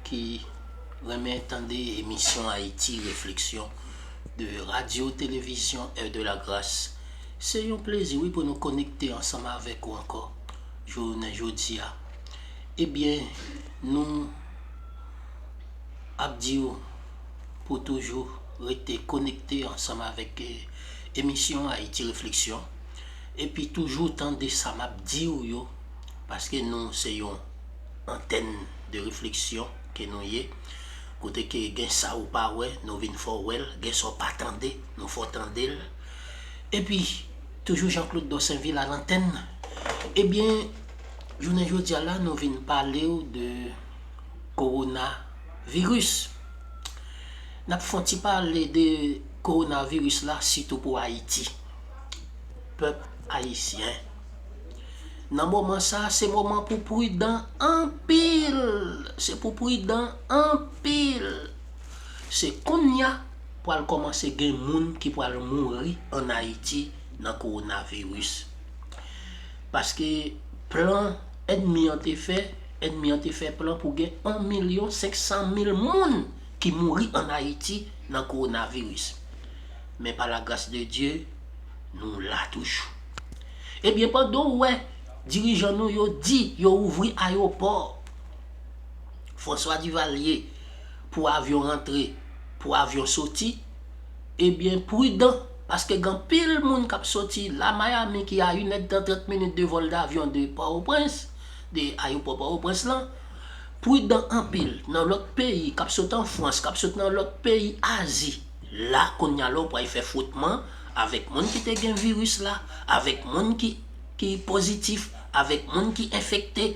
ki renmen tande emisyon Ayiti Refleksyon de Radyo Televizyon Heure de la Grâce. Se yon plezi wi pou nou konekte ansanm avèk ou ankò jounen jodi a. Ebyen nou ap di ou pou toujou rete konekte ansanm avèk emisyon Ayiti Refleksyon epi toujou tande sa m ap di ou yo paske nou se yon Antèn de refleksyon ke nou ye, kote ke gen sa ou pa wè, nou vin fè w wè l, gen sa w pa tande, nou fè w tande l. Epi, toujou Jean Claude Dorsainville a lantèn. Ebyen, jounen jodi a la, nou vin pale w de Kowona Viris. N ap fè yon ti pale de Kowona Viris la, sitou pou Ayiti, pèp Ayisyen. Nan moman sa se moman pou pridan anpil se pou pridan anpil se konnya pral kòmanse gen moun ki pral mouri an ayiti nan kowona viris paske plan ènmi an te fè ènmi an te fè plan pou gen 1 milyon 500 mil moun ki mouri an ayiti nan kowona viris men pa la gras de dye nou la toujou. Ebyen pandan w wè dirijan nou yo di yo ouvri ayopò François Duvalier pou avyon rantre, pou avyon soti, ebyen prudan paske gen anpil moun kap soti la Miami ki a 1 è tan 30 minit de vòl davyon de Pòtoprens, de ayopò Pòtoprens lan, prudan anpil nan lòt peyi kap sot an Frans, kap sot nan lòt peyi Azi. La kounya la w pral fè fwotman avèk moun ki te gen viris la, avèk moun ki ki pozitif, avèk moun ki enfekte.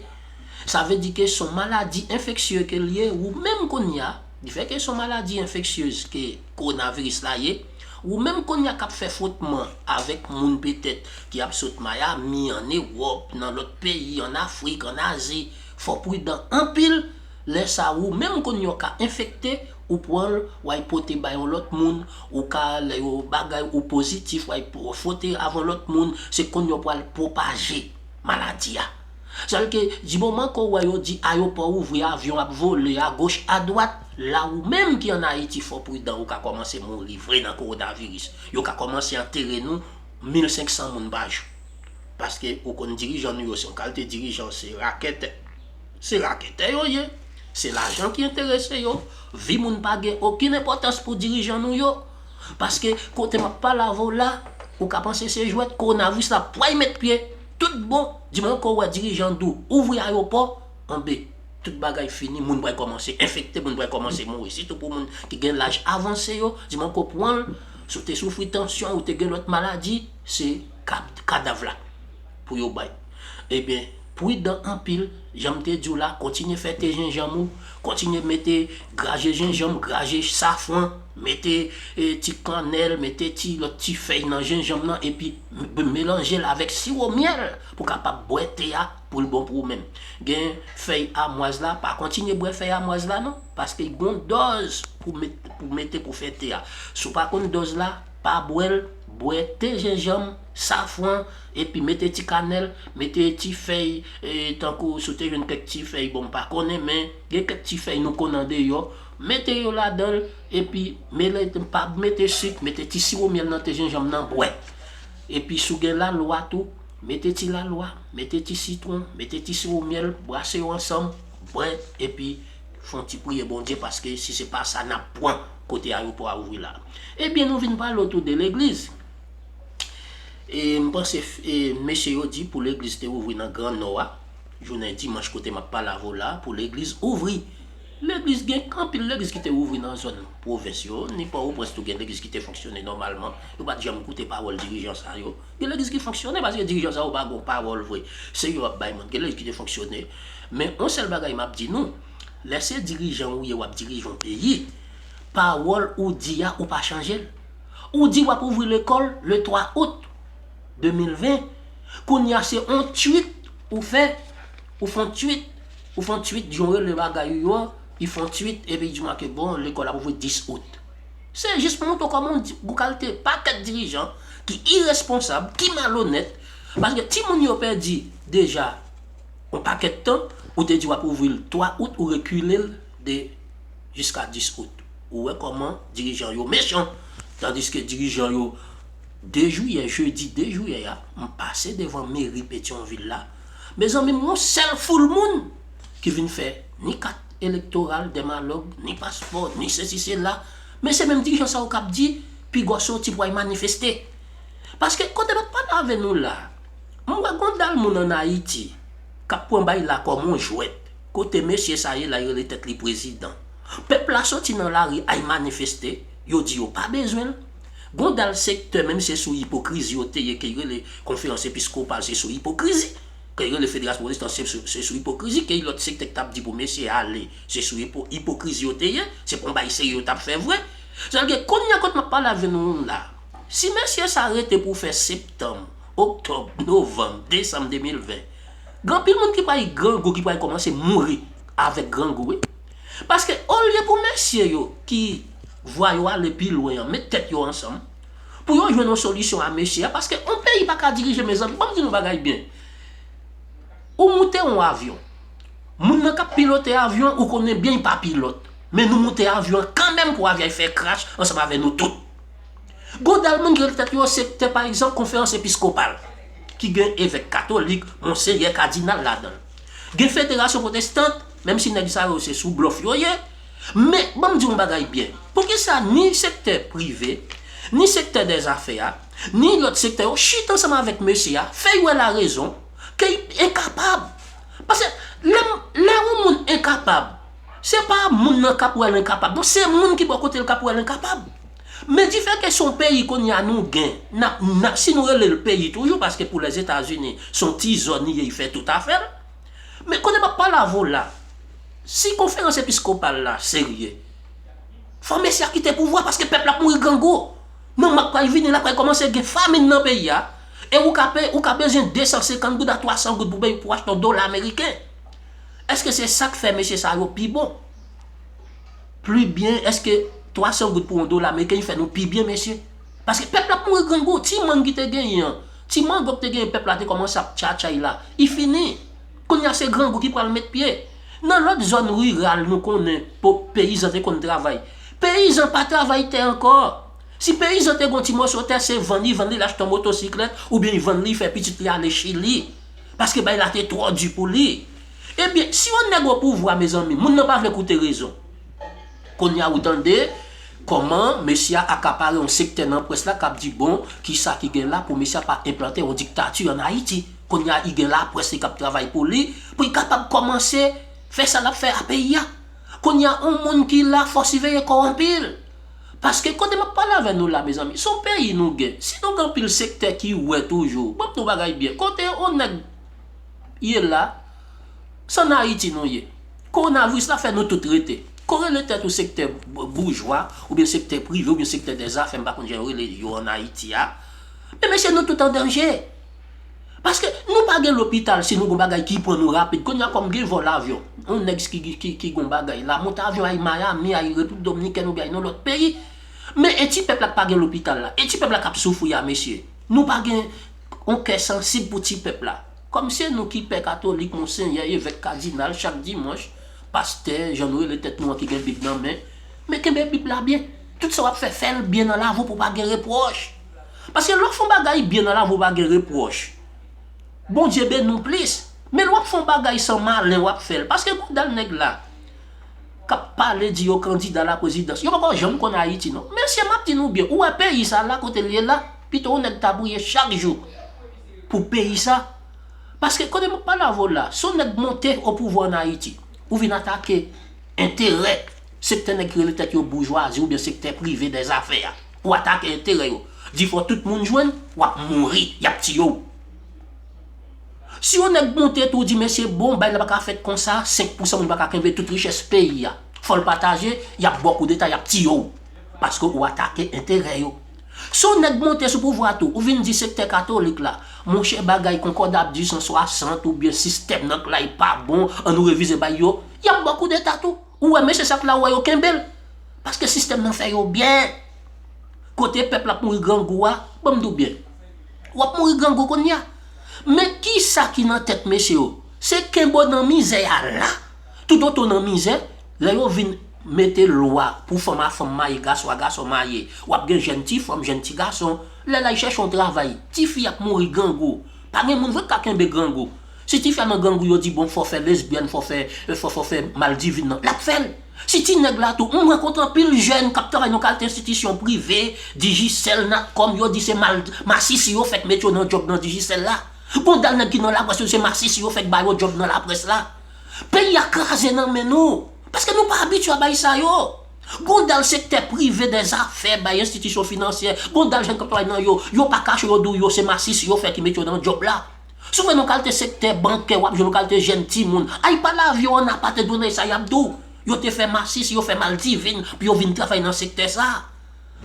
Sa vle di ke son maladi enfeksye ke l ye ou menm kounya, di fè ke son maladi enfeksyez ke kowonaviris la ye, ou menm kounya k ap fè fwotman avèk moun petèt ki ap sot Mayami, an Ewòp, nan lòt peyi, an Afrik, an Azi, fò w pridan anpil. Lè sa ou menm konn yon ka enfekte ou pwanl way pote bay yon lòt moun ou ka lè yo bagay ou pozitif way fwote avyon lòt moun se konn yo pwal pwopaje maladi a sèl ke di moman ke ou wè yo di ayopò ouvri avyon ap vole agoch adwat la ou menm ki an ayiti fò pridan ou ka kòmanse mouri vre nan kowonaviris yo ka kòmanse antere nou mil senk san moun pa jou paske ou konn dirijan nou yo se yon kalte dirijan se rakèt. Se raketè yo ye, se lajan ki enterese yo, vi moun pa gen okenn enpòtans pou dirijan nou yo. Paske kote m ap pale avè w la, ou ka panse se jwèt, kowonaviris la pway met pye, tout bon, di mwen ke w wè dirijan di w ouvri ayopò, anbe, tout bagay fini, moun pral kòmanse enfekte, moun pral kòmanse mouri, sitou pou moun ki gen laj avanse yo, di mwen ke w pran l, si w te soufri tansyon, ou te gen lòt maladi, se kadav la pou yo bay. Ebyen. Prudan anpil, janm te diw la kontinye fè te jenjanm ou, kontinye mete graje jenjanm, graje safran, mete ti kannèl, mete ti lòt ti fèy nan jenjanm nan epi melanjel avèk siwo myèl pou kapab bwè te a poul bon pou ou menm. Gen fèy amwaz la, pa kontinye bwè fèy amwaz la non, paske gon dòz pou mete pou fè te a. Si w pa konn dòz la, pa bwèl, bwè te jenjanm. safran epi mete ti kanèl, mete ti fèy tankou si w te jwenn kèk ti fèy bon m pa konnen men gen kèk ti fèy nou konn andeyò, mete yo ladan l epi mele pa mete sik mete ti siwo myèl nan te jenjanm nan bwè. Epi si w gen lalwa tou mete ti lalwa, mete ti sitwon, mete ti siwo myèl brase yo ansanm bwè epi fon ti priye Bondye paske si se pa sa n ap pwan kote ayewopò a ouvri la. Ebyen nou vin pale otou de legliz. E m panse e mesye yo di pou legliz te ouvri nan gran nò a jounen dimanch kote map pale avè w la a pou legliz ouvri legliz gen anpil legliz ki te ouvri nan zòn pwovens yo ni pòwoprens tou gen legliz ki te fonksyone nòmalman yo pat janm koute pawòl dirijan sa yo gen legliz ki fonksyone paske dirijan sa yo pa gon pawòl vre se yo ap bay moun gen legliz ki te fonksyone men on sèl bagay map di nou lè se dirijan ou ye wap dirije yon peyi pawòl ou di a ou pa chanje l. Ou di wap ouvri lekòl le 3 out 2020, kounye a se on twit ou fè, ou fon twit, ou fon twit jan w rele bagay ou yo an, u fon twit epi di mwen ke bon lekòl ap ouvri 10 out. Se jis pou montre w kòman gou kalte pakèt dirijan ki iresponsab, ki malonèt, paske timoun yo pèdi deja on pakèt tan, ou te di wap ouvri l 3 out ou rekile l. 2 jiska 10 out. Ou wè kòman dirijan yo mechan. Tandiske dirijan yo 2 jiyè, jedi 2 jiyè a, m pase devan meri Petyonvil la, mezanmi m wè yon sèl foul moun ki vin fè ni kat elektoral Dèmalòg, ni paspò, ni sesi sela. Men se menm dirijan sa yo k ap di pigò soti pou al manifeste. Paske kote m ap pale avè nou la a, m wè gen yon dal moun ann Ayiti k ap pran bay la kòm yon jwèt. Kote mesye sa ye la yo rele tèt li prezidan. Pèp la soti nan lari ay manifeste, yo di yo pa bezwen l. Gon dal sektè menm se sou ipokrizi yo te ye ke y rele konferans episkopal se sou ipokrizi, ke y rele federasyon pwotestan se sou se sou ipokrizi, ke y lòt sektè k t ap di pou mesye ale se sou ipo ipokrizi yo te ye, se pa yon bagay serye yo t ap fè vre. Sa vle di kounye a kot m ap pale avè nou la, si mesye sa rete pou fè septanm, oktòb, novanm, desanm 2020, Gen anpil moun ki pral grangou ki pral kòmanse mouri avèk grangou wi. Paske olye pou mesye yo ki vwa yo ale pi lwen an met tèt yo ansanm pou yo jwenn yon solisyon a mesye a paske yon peyi pa ka dirije mezanmi banm di nou bagay byen ou moute yon avyon moun nan k ap pilote avyon an ou konnen byen li pa pilòt men nou moute avyon an kanmenm pou avyon an fè krash ansanm avè nou tout. Godal moun ki rele tèt yo sektè pa egzanp konferans episkopal ki gen evèk katolik, monseyè, kadinal ladan l. Gen federasyon pwotestant, menm si nèg sa yo se sou blòf yo ye. Men, ban m di w yon bagay byen, poukisa ni sektè prive, ni sektè dè zafè a, ni lòt sektè yo chita ansanm avèk mesye a, fè y wè larezon ke y enkapab? Pase, lè m, lè yon moun enkapab, se pa moun nan k ap wè l enkapab non, se moun ki bò kote l k ap wè l enkapab. Men dife ke son peyi kounye a nou gen, nap nap si nou rele l peyi toujou paske pou Lèzetazini son ti zòn li ye li fè tout afè l. Men kounye map pale avè w la, si konferans episkopal la serye, fò mesye a kite pouvwa paske pèp la ap mouri grangou. Nan mwa k pral vini la pral kòmanse gen famin nan peyi a e ou ka peye ou ka bezwen 250 goud a 300 goud pou peye pou achte yon dola ameriken. Eske se sak fè mesye sa yo pi bon? pli byen eske 300 goud pou yon dola ameriken fè nou pi byen mesye paske pèp la ap mouri grangou ti mang ki te genyen an ti mango ki te genyen pèp la te kòmanse ap tchatchay la i fini kounye a se grangou ki pral met pye nan lòt zòn riral nou konnen pou peyizan te konn travay peyizan pa travay tè ankò si peyizan te gon ti mòso tè se vann li vann li l achte yon motosiklèt oubyen li vann li fè pitit li ale chili paske bay la te twò di pou li Ebyen si yon nèg opouvwa mezanmi moun nan pa vle koute rezon. Konnya ou tande Koman mesye a akapare yon sektè nan près la kap di bon kisa ki gen la pou mesye a pa enplante yon diktati an Ayiti. Konnya li gen laprès li kap travay pou li pou li kapab kòmanse fè sa lap fè a peyi a. Konnya yon moun ki la fò siveye kòw anpil. Paske kote map pale avè nou la mezanmi son peyi nou gen si nou gen anpil sektè ki wè toujou map di nou bagay byen kote yon nèg ye la, s an Ayiti nou ye. Kowonaviris la fè nou tout rete. Ko rele tèt ou sektè boujwa, oubyen sektè prive, oubyen sektè dè zafè, m pa konn jan yo rele yo an Ayiti a, men mesye nou tout an danje. Paske nou pa gen lopital si nou gen yon bagay ki pran nou rapid. Kounya kòm gen vòl avyon, yon nèg ki gen yon bagay la, monte avyon al Miami, al Repiblik Dominikèn oubyen al yon lòt peyi. Men e ti pèp la k pa gen lopital la? E ti pèp la k ap soufri a mesye? Nou pa gen. On kè sansib pou ti pèp la. Kòm se nou ki pè katolik, monsenyè, evèk, kadinal, chak dimanch, pastè, jan nou rele tèt nou an ki gen bib nan men, men kenbe bib la byen. Tout sa w ap fè, fè l byen nan lavou pou pa gen repwòch. Paske lè w fè on bagay byen nan lavou pou pa gen repwòch, Bondye beni w plis. Men lè w ap fè on bagay san malen w ap fè l, paske gwo dal nèg la k ap pale di yo kandida laprezidans, yo pa ko janm konn Ayiti non. Mesye m ap di nou byen, ou wè peyi sa la kote l ye la? Pito yon nèg ta priye chak jou pou peyi sa. Paske kote map pale avè w la, si yon nèg monte o pouvwa an Ayiti, ou vin atake enterè sektè nèg ki rele tèt yo boujwazi oubyen sektè prive dè zafè a. Ou atake enterè yo. Di fò tout moun jwenn, wap mouri, yap tiye w. Si yon nèg monte tou di mesye bon bagay la pa ka fèt konsa, 5 pousan moun pa ka kenbe tout richès peyi a. Fò l pataje, yap ba w koudeta, yap tiye w. Paske ou atake enterè yo. Si yon nèg monte sou pouvwa tou, ou vin di sektè katolik la, monchè bagay konkòda ap di 160 oubyen sistèm nan k'lay pa bon, an nou revize bay yo, y'ap ba w koudeta tou. Ou wè mesye sa k'la ou wè yo kenbe l. Paske sistèm nan fè yo byen. Kote pèp l'ap mouri grangou a, banm di w byen. W'ap mouri grangou kounye a. Men kisa ki nan tèt mesye yo? Se kenbe w nan mizè a la. Toutotan w nan mizè, lè yo vin. Mete lwa pou fanm a fanm maye gason a gason maye wap gen jèn ti fanm jèn ti gason lè lay chèche yon travay ti fi ap mouri grangou pa gen moun vre kap kenbe grangou si ti fi a nan grangou yo di bon fò fè lesbyèn fò fè fò fò fè mal divin nan lap fèl si ti nèg la tou m rankontre anpil jèn kap travay nan kalte enstitisyon prive digicel natcom yo di se mal masisi yo fèk met yo nan djòb nan digicel la bon dal nèg ki nan laprès yo di se masisi yo fèk ba yo djòb nan laprès la peyi a kraze nan men nou. Paske nou pa abitye a bay sa yo. Gon dal sektè prive dè zafè bay enstitisyon finansyè, gon dal jèn k ap travay nan yo, yo pa kache yo di w yo se masis yo fè ki mete yo nan djòb la. Si w fè nan kalte sektè bankè w ap jwenn yon kalte jèn timoun ay pa lave w an apa te done sa y ap di w yo te fè masis yo fè maldivin pou yo vin travay nan sektè sa.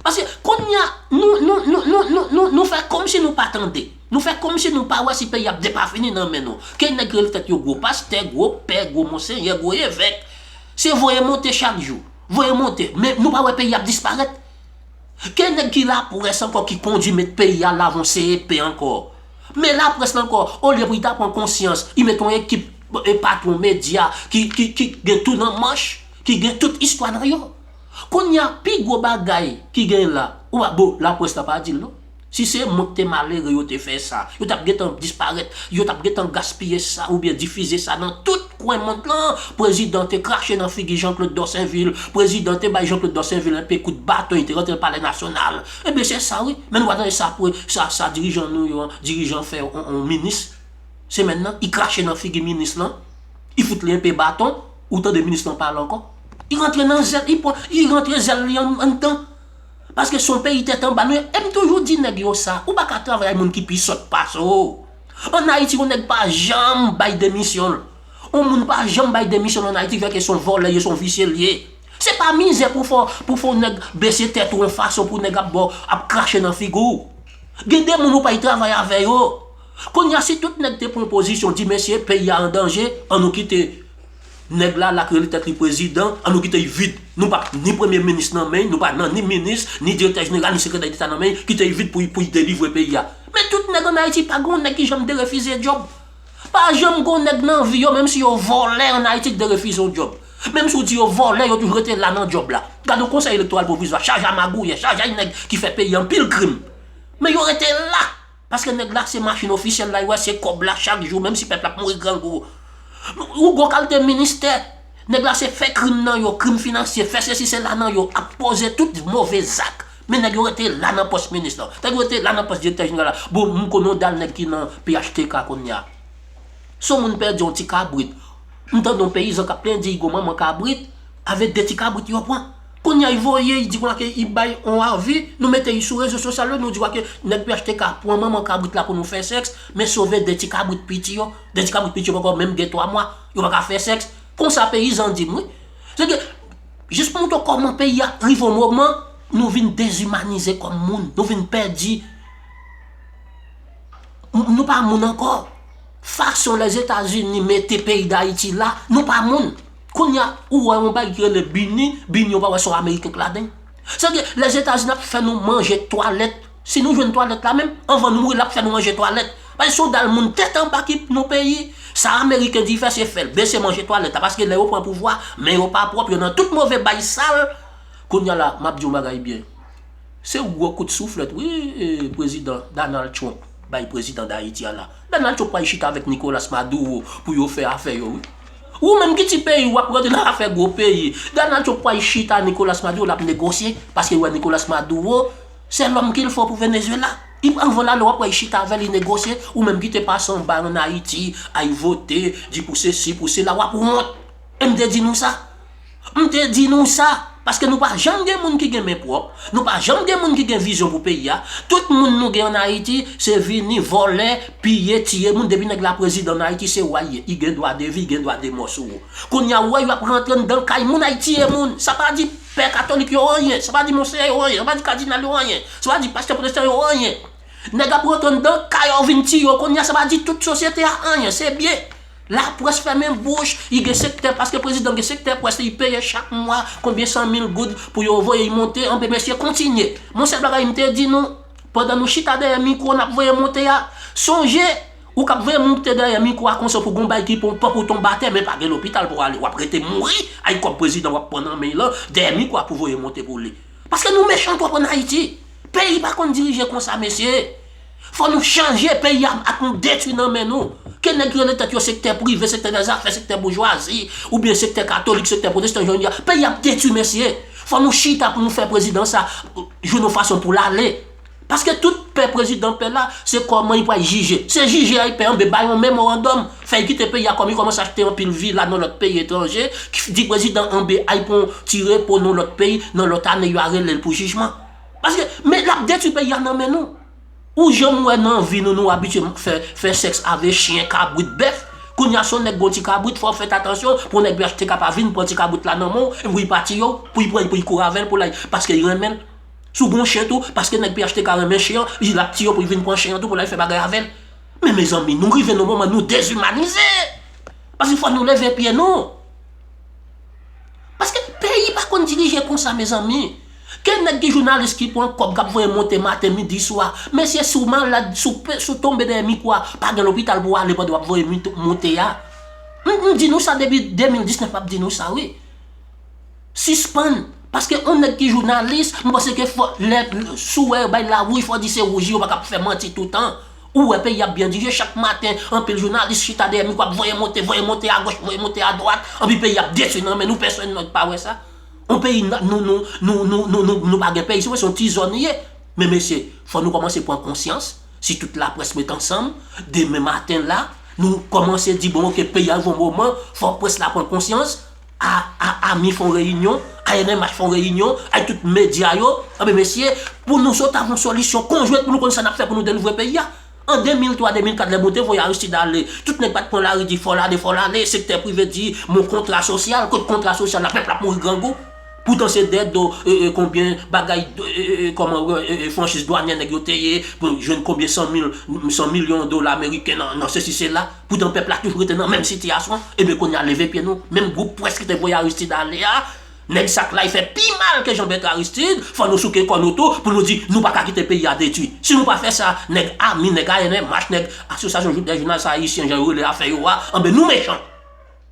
Paske konnya nou fè komsi nou pa tande, nou fè komsi nou pa wè si peyi ap depafini nan men nou, ke nèg rele tèt yo gwo pastè, gwo pè, gwo monsenyè, gwo evèk, se voye monte chak jou, voye monte, men nou pa wè peyi ap disparèt. Ke nèg ki laprès ankò ki kondi met peyi a lavan w se epe ankò. Men laprès lan ankò, olye pou li ta pran konsyans, li met yon ekip patwon medya ki gen tou nan manch, ki gen tout istwa nan yo. Konnya pi gwo bagay ki gen la ou pa bon la press la pa dil non si se mwen k te malere yo te fè sa yo tap gentan disparèt yo tap gentan gaspiye sa oubyen difize sa nan tout kwen mond lan prezidan te krache nan figi Jean Claude Dorsainville prezidan te bay Jean Claude Dorsainville enpe kout baton li te rantre nan palè nasyonal ebyen se sa wi men nou pa tande sa pre sa dirijan nou yo an dirijan fè yon minis semèn nan i krache nan figi minis lan i fout li enpe baton. Ou tande minis lan pale ankò? Li rantre nan zèl li, li rantre zèl li anndan. Paske son peyi tèt anba nou ye. E m toujou di nèg yo sa, ou pa ka travay ak moun ki pi sòt pase w. An Ayiti yon nèg pa janm bay demisyon l. Yon moun pa janm bay demisyon l an Ayiti vèke son vòlè l ye, son visye l ye. Se pa mizè pou fè w pou nèg bese tèt ou yon fason pou nèg ap ba w, ap krache nan figi w. Gen de moun ou pay travay avè yo. Kounya si tout nèg te pran pozisyon di mesye peyi a an danje an nou kite nèg la la k rele tèt li prezidan an nou kite y vid nou pa ni premye minis nan men y nou pa nan ni minis ni direktè jeneral ni sekretè deta nan men y kite y vid pou y pou y delivre peyi a men tout nèg an ayiti pa gon nèg ki janm derefize djòb pa janm gon nèg nan vi yo menm si yo vòlè an ayiti k derefize yon djòb menm si w di yo vòlè yo toujou rete la nan djòb la gad yon konsèy elektoral pwovizwa chaje a magouyè chaje a nèg ki fè peyi a anpil krim men yo rete la. Paske nèg la se machin ofisyèl la, yo wè se kòb la chak jou menm si pèp la ap mouri grangou. Yon gwo kalte ministè, nèg la se fè krim nan yo, krim finansye, fè sesi sela nan yo, ap poze tout move zak. Men nèg yo rete la nan pòs minis lan. Nèg yo rete la nan pòs direktè jeneral la. Bon, m konnen yon dal nèg ki nan phtk kounye a. Si yon moun pèdi yon ti kabrit, m tande yon peyizan k ap plenyen di, Igo manman kabrit, avèk de ti kabrit yo pran. Kounya y voye y di konsa ke y bay on avi, nou mete y sou rezo sosyal yo, nou di konsa ke nèg phtk pwan manman kabrit la pou nou fè sèks, men sove 2 ti kabrit piti yo, 2 ti kabrit piti yo poko menm gen 3 mwa, yo paka fè sèks, konsa peyizan di m wi. Se ke, jis pou moutre w kòman peyi a rive on moman, nou vin dezimanize kòm moun, nou vin pèdi, nou pa moun ankò, fason Lèzetazini mete peyi Dayiti la, nou pa moun. Kounya ou wè yon bagay ki rele bini, bini ou pa wè son ameriken k ladan. Sa vle di lèzetazini ap fè nou manje twalèt, si nou jwenn twalèt la menm, anvan nou mouri lap fè nou manje twalèt. Paske son dal moun tèt anba ki pou nou peyi, sa ameriken di fè se fèl, bese manje twalèt la paske lè yo pran pouvwa, men yo pa pwòp, yo nan tout move bay sal. Kounya la map di yon bagay byen, se yon gwo kout souflèt wi prezidan Danal Trump bay prezidan dayiti a la. Danal Trump pral chita avèk Nikolas Maduro pou yo fè afè yo wi. Ou menm ki ti peyi wap rantre nan afè gwo peyi. Donald Trump pwal chita Nicolas Maduro lap negosye paske li wè Nicolas Maduro se lòm kil fo pou Venezuela. Li pral vòl ale wap wè li chita avèl li negosye ou menm kite pase anba an Ayiti ay vote di pou sesi pou sela wap wont. MD di nou sa. M te di nou sa, paske nou pa janm gen moun ki gen men pwòp, nou pa janm gen moun ki gen vizyon pou peyi a, tout moun nou gen an Ayiti se vini vòlè, piye, tiye moun, depi nèg la prezidan an Ayiti se wa y ye, y gen dwa de vi, gen dwa de mò sou ou. Kounye a ou wè yo ap rantre anndan kay moun ay tiye moun, sa pa di pè katolik yo anyen, sa pa di monseyè yo anyen, sa pa di kadinal yo anyen, sa pa di pastè pwotestan yo anyen. Nèg ap rantre anndan kay ou vin tiye ou, kounye a sa pa di tout sosyete a anyen, se byen. La près fèmen bouch yi gen sektè paske prezidan gen sektè près li yi peye chak mwa konbyen san mil goud pou yo voye yi monte anpe mesye kontinye mon sèl bagay m te di nou pandan nou chita dèyè mikro nap voye monte a sonje ou kap voye moute dèyè mikro a konse pou gon bay ki pon pòk ou tonbe atè men pa gen lopital pou ale wap rete mouri ay kòb prezidan wap pran nan men yi lan dèyè mikro a pou voye monte pou li paske nou mechan twòp an ayiti peyi pa konn dirije konsa mesye. Fò nou chanje peyi a ak nou detwi nan men nou. Ke nèg ki rele tèt yo sektè prive, sektè nèg zafè, sektè boujwazi, oubyen sektè katolik, sektè pwotestan jan yo di a. Peyi a ap detwi mesye. Fò nou chita pou nou fè prezidan sa jwenn yon fason pou l ale. Paske tout pè prezidan pè la, se kòman li pral jije. Se jije a li pè anben bay yon memorandòm, fè li kite peyi a kòm li kòmanse achte anpil vila nan lòt peyi etranje, di prezidan anben al pran yon ti repo nan lòt peyi, nan lòt ane yo a rele l pou jijman. Paske men lap detwi peyi a nan men nou. Ou janm wè nan vi nou nou abitye fè sèks avè chyen, kabrit, bèf. Kounye a si yon nèg gen yon ti kabrit fò w fèt atansyon pou yon nèg phtk pa vin pran ti kabrit la nan men w epi pou li pa tiye w, pou li pran l pou li kouri avè l pou l al paske li renmen l. Si w gen yon chyen tou paske nèg phtk renmen chyen an li di lap tiye w pou li vin pran chyen an tou pou l al fè bagay avè l. Men mezanmi nou rive nan yon moman nou dezimanize! Paske fò nou leve pye nou. Paske peyi pa konn dirije konsa mezanmi. Ke nèg ki jounalis ki pran kòb kap voye monte maten, midi, swa. Mesye si w malad, si w pe, si w tonbe dèyè mikwo a, pa gen lopital pou w ale pandan w ap voye mute, monte a. M m di nou sa depi 2019 m ap di nou sa wi. Sispann. Paske yon nèg ki jounalis, m panse ke fò lè sou wè yo bay lawouj fò di se wouj li yo pa ka ap fè manti toutan. Ou wè peyi ap byen dirije chak maten anpil jounalis chita dèyè mikwo ap voye monte voye monte agoch voye monte adwat anpi peyi ap detwi nan men nou pèsonn nèg pa wè sa yon peyi nou pa gen peyi se wè se yon ti zòn li ye men mesye fò nou kòmanse pran konsyans si tout laprès met ansanm demen maten la nou kòmanse di bon ok peyi a rive yon moman fò près la pran konsyans. A a ami fon reyinyon, a enèmach fon reyinyon, a tout medya yo, anben mesye, pou nou sot avon solisyon konjwent pou nou konn sa n ap fè pou nou delivre peyi a. An 2003, 2004 lè bon te voye Aristide ale, tout nèg pa t pran lari di fò l ale, fò l ale, sektè prive di mo kontra sosyal, kot kontra sosyal la, pèp la ap mouri grangou. Poutan se dèyè do konbyen bagay kòman franchiz dwanyè nèg yo te ye pou jwenn konbyen san mil, san milyon dola meriken nan sesi sela. Poutan pèp la toujou rete nan menm sitiyasyon, eben kounye a leve pye nou, menm gwoup pwès ki te voye Aristide ale a, nèg sak la y fè pi mal ke Jean Bertrand Aristide, fò nou souke kò nou tou pou nou di nou pa ka kite peyi a detwi. Si nou pa fè sa, nèg ami, nèg ANMH, nèg Asosyasyon dè jounalistes ayisyen jan yo rele afè yo a, anben nou mechan.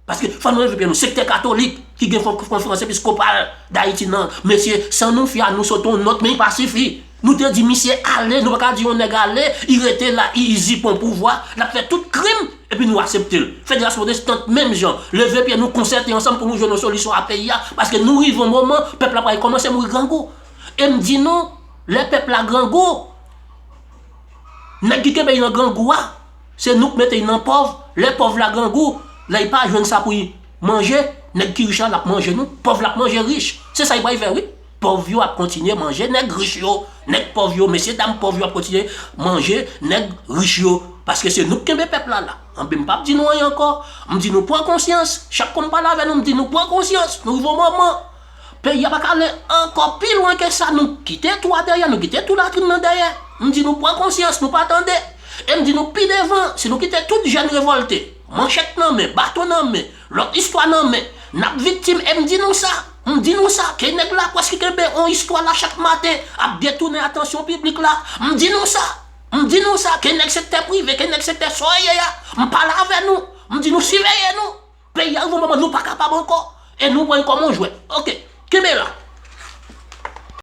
Paske fò nou evite nou sektè katolik ki gen konferans episkopal dayiti nan mesye san nou fia nou sote yon nòt men li pa sifi nou te di misye ale nou pa ka di yon nèg ale li rete la li izipon pouvwa lap fè tout krim epi nou aseptel federas pwotestant menm jan leve pye nou konsète ansanm pou nou jwenn yon solisyon a peyi a paske nou rive yon moman pèp la pral kòmanse mouri grangou em di nou lè pèp la grangou nèg ki kenbe yo nan grangou a. Se nou k mete y nan pòv, lè pòv la grangou, lè y pa jwenn sa pou y manje, nèg ki rich la lap manje nou, pòv la ap manje rich. Se sa y pral fè wi. Pòv yo ap kontinye manje nèg rich yo, nèg pòv yo, mesye dam pòv yo ap kontinye manje nèg rich yo. Paske se nou k kenbe pèp la la. Anben m pap di nou anyen ankò. M di nou pran konsyans. Chak fwa m pale avè nou m di nou pran konsyans. Nou rive yon moman. Peyi a pa ka ale ankò pi lwen ke sa. Nou kite tou a dèyè, nou kite tou latrin nan dèyè. M di nou pran konsyans, nou pa tande. E m di nou pi devan, si nou kite tout jèn revòlte, manchèt nan men, baton nan men, lòt istwa nan men, n ap viktim. E m di nou sa, m di nou sa, ke nèg laprès ki kenbe yon istwa la chak maten ap detounen atansyon piblik la. M di nou sa, m di nou sa, ke nèg sektè prive, ke nèg sektè soyeye a, m pale avè nou, m di nou siveye nou. Peyi a rive yon moman nou pa kapab ankò e nou pran li kòm yon jwèt. Ok. Kenbe la.